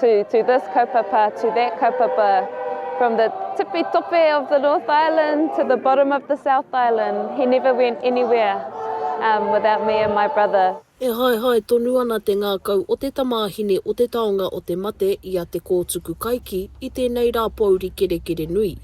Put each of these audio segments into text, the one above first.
to to this kaupapa, to that kaupapa, from the tipi tope of the North Island to the bottom of the South Island, he never went anywhere um, without me and my brother. E haehae tonu ana te ngākau o te tamāhine o te taonga o te mate i a Te Kōtuku Kaiki i tēnei rā pōuri kerekere nui.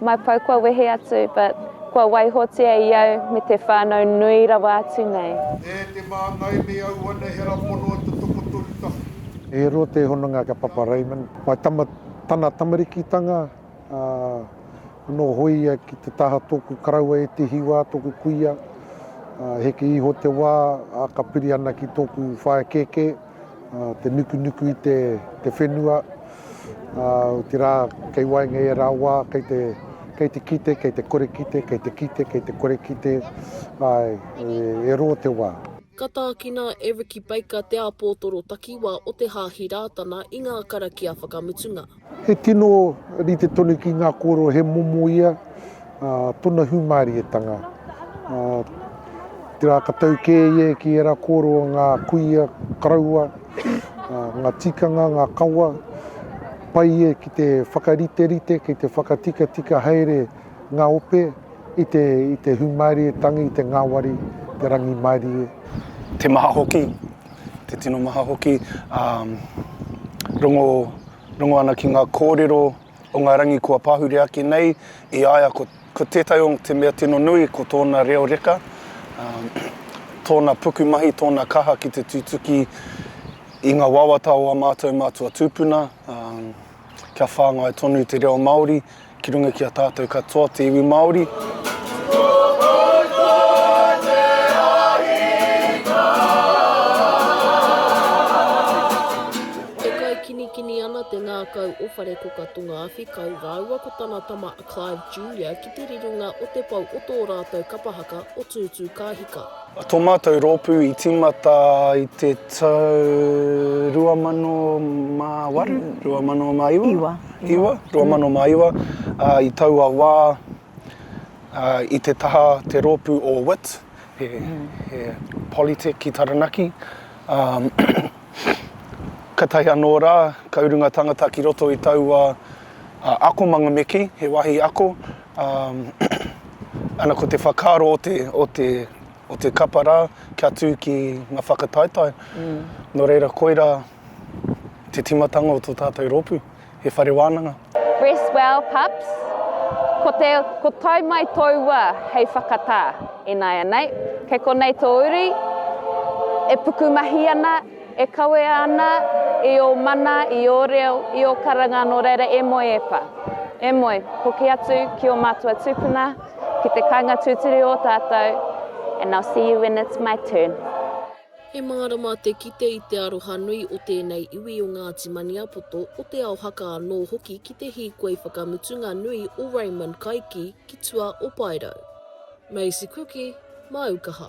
Mai pau kua wehe atu but kua waihotia i au me te whanau nui rawa atu nei. E te māngai me auana he ra pono e te tokotoru tahi. E rua te hononga kia Papa Raymond. Mai tama tana tamarikitanga a no hoi ia ki te taha toku karaua e te hiwa toku kuia a heke iho te wa a ka piri ana ki toku whae keke. te nukunuku i te whenua, otirā kei waenga i ērā wā, kei te kei te kite, kei te kore kite, kei te kite, kei te kore kite, ai, e rō te wā. Ka tākina e Ricky Baker te āpōtoro takiwā o te Hāhi Rātana i ngā karakia whakamutunga. He tino rite tonu ki ngā kōrero he momo ia tona hūmārietanga. Tērā ka tau kē ia ki ērā kōrero o ngā kuia karaua, ngā tikanga, ngā kawa, pai ia ki te whakariterite, ki te whakatikatika haere ngā ope i te, i te hūmārietanga, i te ngāwari, te rangimārie. Te maha hoki, Te tino maha hoki, rongo, rongo ana ki ngā kōrero o ngā rangi kua pahure ake nei, i a ia ko, ko tētahi o te mea tino nui ko tōna reo reka, tōna pukumahi, tōna kaha ki te tutuki i ngā wawata o ā mātou mātua tūpuna, kia whāngai tonu te reo Māori. Ki runga ki a tātou katoa te iwi Māori. ngākau o Wharekoka Tonga Awhikau rāua ko tana tama a Clive Julia ki te rironga o te pou o tō rātou kapa haka o Tūtū Kāhika. Tō mātou rōpū i tīmata i te tau 2008, 2009? Iwa. Iwa, 2009. I taua wā, i te taha te rōpū o wit, he Polytech ki Taranaki, ka tae anō rā, ka urunga tangata ki roto i taua akomanga me kī, he wāhi ako, Ana ko te whakaaro o te kapa rā kia tū ki ngā whakataetae, nō reira koirā te tīmatanga o tō tātou rōpū, he whare wānanga. Rest well pups, ko te ko tae mai tōu wā hei whakatā, ināianei, kei konei tō uri e pukumahi ana, E kawea ana i ō mana, i ō reo, i ō karanga nō reira e moe e pa. E moe, hoki atu ki ō mātua tūpuna, ki te kainga tūturu o tātou, and I'll see you when it's my turn. He mārama te kite i te aroha nui o tēnei iwi o Ngāti Maniapoto, o Te Ao Haka anō hoki ki te hīkoi whakamutunga nui o Raymond Kaiki ki tua o Paerau. Maisie Cooke, Māu Kaha.